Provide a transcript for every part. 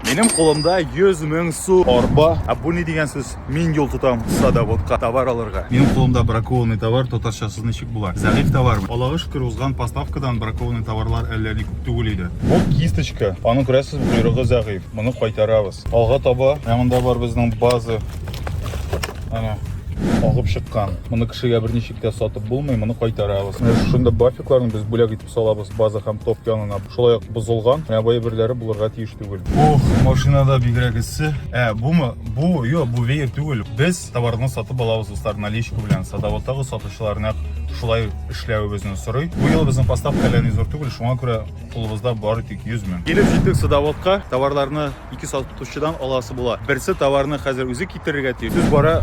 Минем кулымда 100 мең су арба. Ә бу ни дигән сүз? Мин юл тотам садоводка товар алырга. Минем кулымда бракованный товар татарчасы ничек була? Зәгыйфь товармы? Аллага шөкер, узган поставкадан бракованный товарлар әллә ни күп түгел иде. Бу кисточка. Аның күрәсез, койрыгы зәгыйфь. Моны кайтарабыз. Алга таба. Ә монда бар безнең база. Ана агып чыккан. Моны кешегә берничек тә сатып булмый, моны кайтарабыз. Шунда бафикларны без бүләк Салабыз база һәм топ янына. Шулай ук бозылган, менә бу әйберләре булырга тиеш түгел. Ох, машинада бигрәк эссе. Ә, бумы? Бу, йо, бу веер түгел. Без товарны сатып алабыз дуслар, наличка белән. Садоводтагы сатучылар нәкъ шулай эшләвебезне сорый. Бу ел безнең поставка әллә ни зур түгел, шуңа күрә кулыбызда бары тик 100 мең. Килеп җиттек садоводка, товарларны ике сатучыдан аласы була. Берсе товарны хәзер үзе китерергә тиеш. Сүз бара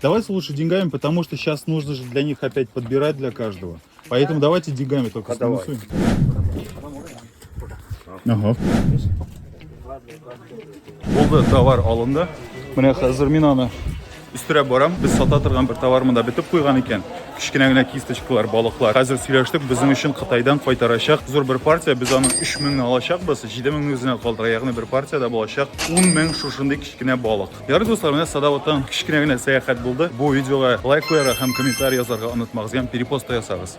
Давайте лучше деньгами, потому что сейчас нужно же для них опять подбирать для каждого. Поэтому давайте деньгами только а сминусуем. Ага. Болды товар алынды. Міне қазір мен аны үстерәп барам. Без сата торган бер товар монда бетеп куйган икән. Кечкенә генә кисточкалар, балыклар. Хәзер сөйләштек, безнең өчен Кытайдан кайтарачак. Зур бер партия, без аны 3000 алачакбыз. 7000 үзенә калдыра, ягъни бер партиядә булачак 10000 шушындый кечкенә балык. Ярый дуслар, менә Садавыттан кечкенә генә сәяхәт булды. Бу видеога лайк куярга һәм комментарий язарга онытмагыз, ям перепост та ясагыз.